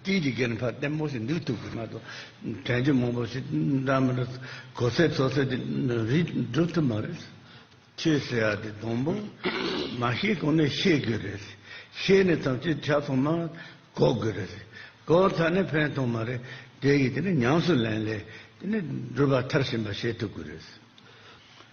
སྤྲིན་གྱི་སྒེར་འཕར་ལྟད་མོ་ཞིག་འདུག་ཐུག་གི་མ་གཏོགས་དྲན་རྒྱུ་མང་པོ་ཞིག་འདྲ་མི་འདུག་གོ་ཚད་ཚོ་ཚད་དེ་རིགས་འགྲུབ་ཐུབ་མ་རེད། ཁྱོས་ཟེར་ཡག་དེ་སྡོང་པོ། མ་ཤེས་གོང་ནས་ཤེས་དགོས་རེད། ཤེས་ནས་ཐམས་ཅད་ཆ་ཚང་མ་གོ་དགོས་རེད། གོ་ཚར་ནས་ཕན་ཐོག་མ་རེད། དེ་ཡིས་དེ་ནས་ཉམས་སུ་ལེན་ལས་དེ་ནས་སྒྲུབ་པ་མཐར་ཕྱིན་པ་བྱེད་ཐུབ་དགོས་རེད།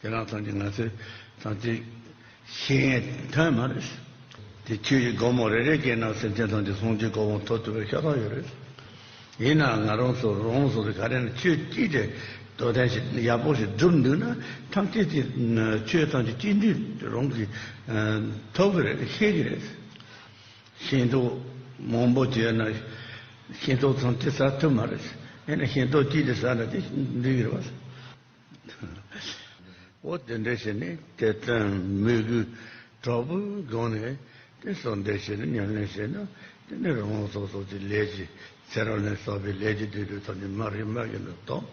ཁྱེད་རང་ཚང་གི་ང་ཚོའི་ཚང་གཅིག་ཤེས་ངེས་དོན་མ་རེད། དེ་ཁྱོད་ཀྱི་སྒོར་མོ་རེ་རེ་སྐྱེས་ན་སེམས་ཅན་ཚང་གི་བསྲུང་བྱའི་སྒོར་མོ་ཐོབ་ཐུབ་པའི་ཤ་སྟག་ཡོད་རེད། ཡིན་ནའང་ང་རང་ཚོ་རང་སོ་སོའི་ག་རེ་ན་ཆོས་སྐྱིད་དེ་དོ་དན་ཞིག་ཡག་པོ་ཞིག་བསྒྲུབ་འདུག་ན་ཐམས་ཅད་ཀྱིས་ཁྱོད་ཚང་གི་སྐྱིད་འདུན་དེ་རང་གིས་ཐོབ་གི་རེད་ཤེས་ཀྱི་རེད། ཤེས་མདོག་མང་པོ་བྱས་ན་ཤེས་མདོག་ཚང་གཅིག་ཟ་ཐུབ་མ་རེད། ཡིན་ན་ཤེས་མདོག་སྐྱིད་དེ་ཟ་ན་དེ་འགྲིག་གི་རེད། འོ་དེ་འདྲ་ཞིག་ནི་དེ་ལྟར་མི་དགོས། དྲག་པོའི་སྒང་ནས་དེ་སོགས་འདི་བྱས་ན་ཉམས་ལེན་བྱས་ན་དེ་ནི་རང་དབང་སོགས་སོགས་ཀྱི་ལས་ཀྱི་ཚེ་རང་ལས་བསགས་པའི་ལས་ཀྱི་དུས་དྲུག་ཐོབ་ནས་མར་རིག་མར་གྱི་ནོར་ཐོབ།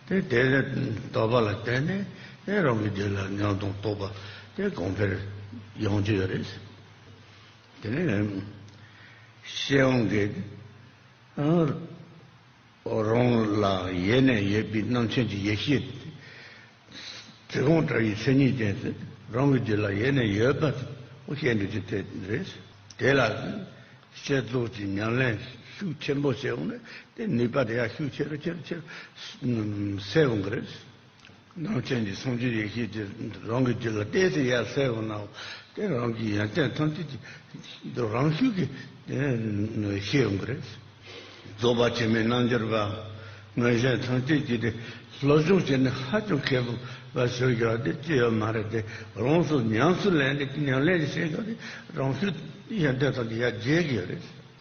དེ་དེ་ལས་ལྡོག་པ་ལ་བརྟེན་ནས་དེ་རང་གི་རྒྱུད་ལ་ཉམས་དང་རྟོགས་པ་དེ་གོང་འཕེལ་ཡོང་རྒྱུ་ཡོད་རེད། དེ་ནི་ཤེས་ཡོན་གྱི། རང་ལ་ཡེ་ནས་ཡོད་པའི་སྣང་མཚན་གྱི་ཡེ་ཤེས་དེ། གང་ལྟར་ཡི་མཚན་ཉིད་ཅན་དེ་རང་གི་རྒྱུད་ལ་ཡེ་ནས་ཡོད་པ་ཤེས་འདོད་ཀྱི་དོན་རེད། དེ་ལ་བསྐྱེད་རྫོགས་ཀྱི་ཉམས་ལེན་ཤུགས་ཆེན་པོ་བྱེད་དགོས་ན་དེའི་ནུས་པ་དེ་ཡང་ཤུགས་ཆེ་རུ་ཆེ་རུ་ཆེ་རུ་སད་དགོས་ཀྱི་རེད། ནང་བསྟན་གྱི་སངས་རྒྱས་ཡེ་ཤེས་དེ་རང་གི་རྒྱུད་ལ་གཏད་དེ་ཡར་གསལ་བར་གནང་བ་དེ་རང་གི་ཡོན་ཏན་ཐམས་ཅད་ཀྱི་དུས་རང་ཤུགས་ཀྱིས་ཤེས་ཡོང་གི་རེད། རྫོགས་པ་ཆེན་མོའི་རྣལ་འབྱོར་པའམ་མངོན་ཤེས་ཐམས་ཅད་ཀྱིས་དེ་སློབ་སྦྱོང་བྱས་ནས་ཧ་ཅང་མཁས་པོ་བ་ཟེར་རྒྱུ་བ་དེ་ཅི་ཡོད་མ་རེད་དེ་རང་སོར་ཉམས་སུ་ལེན་ཏེ་ཉམས་ལེན་བྱེད་རྒྱུ་བ་དེ་རང་ཤུགས་ཡོན་ཏན་ཐམས་ཅད་ཡར་རྒྱས་ཀྱི་ཡོད་རེད།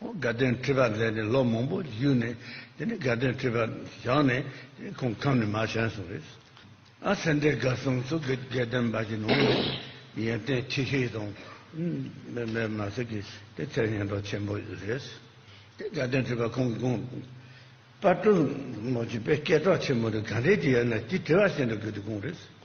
དགའ་སྟོན་ཁྲི་པར་མཛད་ནས་ལོ་མང་པོ་བཞུགས་ནས་དེ་ནས་དགའ་སྟོན་ཁྲི་པར་བཞག་ནས་དེ་ཁོང་ཁམས་ནས་མ་བྱོན་སོང་བས། ཨ་སེ་འདི་དགའ་གསུམ་སུ་དགའ་སྟོན་འབའ་ཞིག་ནང་ནས་ཡོན་ཏན་ཆེ་ཤོས་དང། འབའ་མ་ཟེར་གྱི་དེ་ཚེར་ཡོན་ཀྲོག་ཆེན་པོ་རེད། དེ་དགའ་སྟོན་ཁྲི་པར་ཁོང་གི་དགོངས་པ་དྲུག་མོ་བྱིས་པའི་སྐད་གྲོགས་ཆེན་མོ་དེ་ག་འདྲས་ཀྱི་ཡོད་ན་དེ་དྲི་བ་བྱེད་འགྲོ་དགོས་དུས་དགོངས་རེད།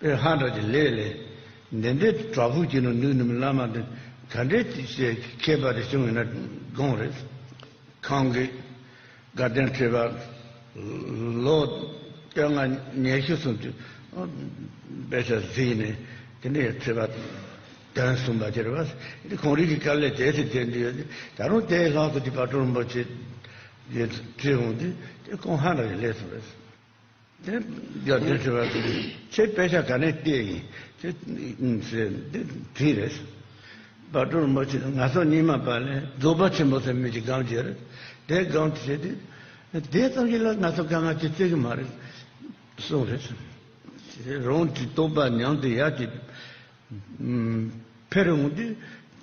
པའི་ཧ་འདྲ་གྱི་ལས་ལས། འདི་འདྲའི་དྲག་པོའི་སྐྱིད་སྣང་ནུས་ནུས་མིན་བླ་མ་འདི། ད་འདྲའི་ཁྱད་པར་དེ་བྱུང་ཡོད་ན་དགོངས་རེད། གང་གི། དགའ་ལྡན་ཁྲི་པ། ལོ། སྟོད་ལྔ་ཉེར་བཞི་གསུམ་དུས། དཔེ་ཆ་གཟིགས་ནས་དེ་འདྲའི་ཁྲི་པ། དོན་གསུམ་པ་དེར་བ། དེ་གོང་རིག་གི་དཀའ་ལས་དེ་ཚེ་དེ་འདི་ཡོད་དེ། ད་རུང་དེའི་ལྷག་ཏུ་དེ་བ་སྤྲོ་རིན་པོ་ཆེ། ཡོད་ཁྲི་འོང་དེ། དེ་ཁོང་ཧ་འདྲ་གྱི་ལས་སུ་རེད། དེ་རྒྱབ་བརྟེན་བྱེད་པ་དེ་ཚེ་དཔེ་ཆ་ག་ནས་བལྟས་ཡིན་དེ་དེ་རེད། བ་དྲུར་མོ་ཆེ་ང་སོ་གཉིས་མ་པ་ལས་རྫོགས་པ་ཆེན་པོ་ཚེ་མེད་ཀྱི་སྒང་རྒྱལ་དེ་སྒང་དེ་བྱས་དེ་དེ་ཙམ་གྱིས་ལ་ང་སོ་དཀའ་ངལ་གྱིས་བརྩི་གི་མ་རེད་གསུངས་རེད། རང་གི་རྟོགས་པ་ཉམས་དེ་ཡར་གྱི་འཕེར་འོང་དུས།